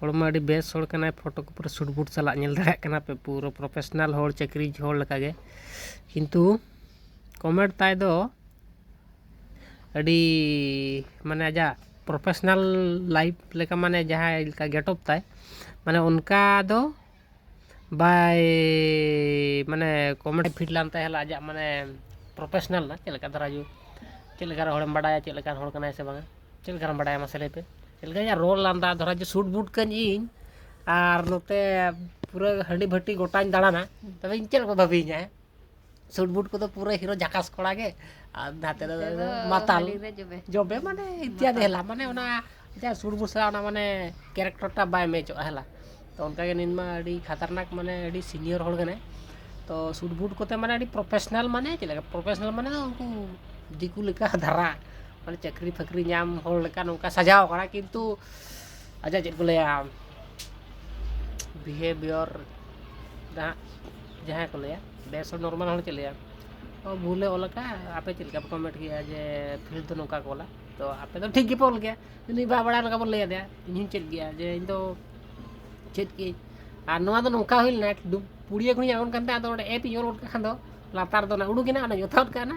ᱦᱚᱲ ᱢᱟ ᱟᱹᱰᱤ ᱵᱮᱥ ᱦᱚᱲ ᱠᱟᱱᱟᱭ ᱯᱷᱳᱴᱳ ᱠᱚ ᱯᱩᱨᱟᱹ ᱥᱩᱴ ᱵᱩᱴ ᱥᱟᱞᱟᱜ ᱧᱮᱞ ᱫᱟᱲᱮᱭᱟᱜ ᱠᱟᱱᱟ ᱯᱮ ᱯᱩᱨᱟᱹ ᱯᱨᱚᱯᱷᱮᱥᱚᱱᱟᱞ ᱦᱚᱲ ᱪᱟᱹᱠᱨᱤᱡ ᱦᱚᱲ ᱞᱮᱠᱟᱜᱮ ᱠᱤᱱᱛᱩ ᱠᱚᱢᱮᱱᱴ ᱛᱟᱭ ᱫᱚ ᱟᱹᱰᱤ ᱢᱟᱱᱮ ᱟᱡᱟᱜ ᱯᱨᱚᱯᱷᱮᱥᱚᱱᱟᱞ ᱞᱟᱭᱤᱯᱷ ᱞᱮᱠᱟ ᱢᱟᱱᱮ ᱡᱟᱦᱟᱸᱭ ᱞᱮᱠᱟ ᱜᱮᱴᱚᱯ ᱛᱟᱭ ᱢᱟᱱᱮ ᱚᱱᱠᱟ ᱫᱚ ᱵᱟᱭ ᱢᱟᱱᱮ ᱠᱚᱢᱮᱰᱤ ᱯᱷᱤᱴ ᱞᱟᱱ ᱛᱟᱭ ᱦᱮᱞᱟ ᱟᱡᱟᱜ ᱢᱟᱱᱮ ᱯᱨᱚᱯᱷᱮᱥᱚᱱᱟᱞ ᱱᱟ ᱪᱮᱫ ᱞᱮᱠᱟ ᱫᱷᱟᱨᱟ ᱡᱩ ᱪᱮᱫ ᱞᱮᱠᱟ ᱨᱮ ᱦᱚᱲᱮᱢ ᱵᱟᱰᱟᱭᱟ ᱪᱮᱫ ᱞᱮᱠᱟᱱ ᱦᱚᱲ ᱠᱟᱱᱟᱭ ᱥᱮ ᱵᱟᱝᱟ ᱪᱮᱫ ᱞᱮᱠᱟᱨᱮᱢ ᱵᱟᱰᱟᱭᱟ ᱢᱟᱥᱮ ᱞᱟᱹᱭ ᱯᱮ ᱪᱮᱫ ᱞᱮᱠᱟ ᱤᱧᱟᱹᱜ ᱨᱚᱲ ᱞᱟᱸᱫᱟ ᱫᱷᱚᱨᱟ ᱡᱮ ᱥᱩᱴ ᱵᱩᱴ ᱠᱟᱹᱧ ᱤᱧ ᱟᱨ ᱱᱚᱛᱮ ᱯᱩᱨᱟᱹ ᱦᱟᱺᱰᱤ ᱵᱷᱟᱹᱴᱤ ᱜᱚᱴᱟᱧ ᱫᱟᱬᱟᱱᱟ ᱛᱚᱵᱮ ᱤᱧ ᱪᱮᱫ ᱠᱚ ᱵᱷᱟᱹᱵᱤᱭᱤᱧᱟ ᱥᱩᱴ ᱵᱩᱴ ᱠᱚᱫᱚ ᱯᱩᱨᱟᱹ ᱦᱤᱨᱳ ᱡᱷᱟᱠᱟᱥ ᱠᱚᱲᱟ ᱜᱮ ᱟᱨ ᱱᱟᱛᱮ ᱫᱚ ᱢᱟᱛᱟᱞ ᱡᱚᱵᱮ ᱢᱟᱱᱮ ᱤᱛᱭᱟᱫᱤ ᱦᱮᱞᱟ ᱢᱟᱱᱮ ᱚᱱᱟ ᱡᱟᱦᱟᱸ ᱥᱩᱴ ᱵᱩᱴ ᱥᱟᱞᱟᱜ ᱚᱱᱟ ᱢᱟᱱᱮ ᱠᱮᱨᱮᱠᱴᱚᱨᱴᱟ ᱵᱟᱭ ᱢᱮᱪᱚᱜᱼᱟ ᱦᱮᱞᱟ ᱛᱚ ᱚᱱᱠᱟᱜᱮ ᱱᱤᱛ ᱢᱟ ᱟᱹᱰᱤ ᱠᱷᱟᱛᱟᱨᱱᱟᱠ ᱢᱟᱱᱮ ᱟᱹᱰᱤ ᱥᱤᱱᱤᱭᱚᱨ ᱦᱚᱲ ᱠᱟᱱᱟᱭ ᱛᱚ ᱥᱩᱴ ᱵᱩᱴ ᱠᱚᱛᱮ ᱢᱟᱱᱮ ᱟᱹᱰᱤ ᱯᱨᱚᱯᱷᱮᱥᱚᱱᱟᱞ ᱢᱟᱱᱮ ᱪᱮᱫ ᱞᱮᱠᱟ ᱯᱨᱚᱯᱷᱮᱥᱚᱱᱟᱞ ᱢᱟᱱᱮ ᱫᱚ ᱩᱱᱠᱩ ᱫᱤᱠᱩ ᱞᱮᱠᱟ ᱫᱷᱟᱨᱟ ᱢᱟᱱᱮ ᱪᱟᱹᱠᱨᱤ ᱯᱷᱟᱹᱠᱨᱤ ᱧᱟᱢ ᱦᱚᱲ ᱞᱮᱠᱟ ᱱᱚᱝᱠᱟ ᱥᱟᱡᱟᱣ ᱠᱟᱱᱟ ᱠᱤᱱᱛᱩ ᱟᱪᱪᱷᱟ ᱪᱮᱫ ᱠᱚ ᱞᱟᱹᱭᱟ ᱵᱤᱦᱮᱵᱤᱭᱚᱨ ᱡᱟᱦᱟᱸ ᱡᱟᱦᱟᱸᱭ ᱠᱚ ᱞᱟᱹᱭᱟ ᱵᱮᱥ ᱦᱚᱲ ᱱᱚᱨᱢᱟᱞ ᱦᱚᱲ ᱪᱮᱫ ᱞᱟᱹᱭᱟ ᱵᱷᱩᱞᱮ ᱚᱞ ᱟᱠᱟᱫᱼᱟ ᱟᱯᱮ ᱪᱮᱫ ᱞᱮᱠᱟ ᱯᱮ ᱠᱚᱢᱮᱱᱴ ᱠᱮᱫᱼᱟ ᱡᱮ ᱯᱷᱤᱞᱰ ᱫᱚ ᱱᱚᱝᱠᱟ ᱠᱚ ᱚᱞᱟ ᱛᱚ ᱟᱯᱮ ᱫᱚ ᱴᱷᱤᱠ ᱜᱮᱯᱮ ᱚᱞ ᱠᱮᱫᱼᱟ ᱩᱱᱤ ᱵᱟᱭ ᱵᱟᱲᱟᱭ ᱞᱮᱠᱟ ᱵᱚᱱ ᱞᱟᱹᱭ ᱟᱫᱮᱭᱟ ᱤᱧ ᱦᱚᱧ ᱪᱮᱫ ᱜᱮᱭᱟ ᱡᱮ ᱤᱧ ᱫᱚ ᱪᱮᱫ ᱠᱮᱫ ᱟᱨ ᱱᱚᱣᱟ ᱫᱚ ᱱᱚᱝᱠᱟ ᱦᱩᱭ ᱞᱮᱱᱟ ᱯᱩᱲᱤᱭᱟᱹ ᱠᱷᱚᱱᱤᱧ ᱟᱬᱜᱚᱱ ᱠᱟᱱ ᱛᱟᱦᱮᱸᱫ ᱟᱫᱚ ᱚᱸᱰᱮ ᱮᱯ ᱤᱧ ᱚᱞ ᱜᱚᱫ ᱠᱟᱜ ᱠᱷᱟᱱ ᱫᱚ ᱞᱟᱛᱟᱨ ᱫᱚ ᱚᱱᱟ ᱩᱰᱩᱠᱮᱱᱟ ᱚᱱᱟᱧ ᱚᱛᱟ ᱜᱚᱫ ᱠᱟᱜᱼᱟ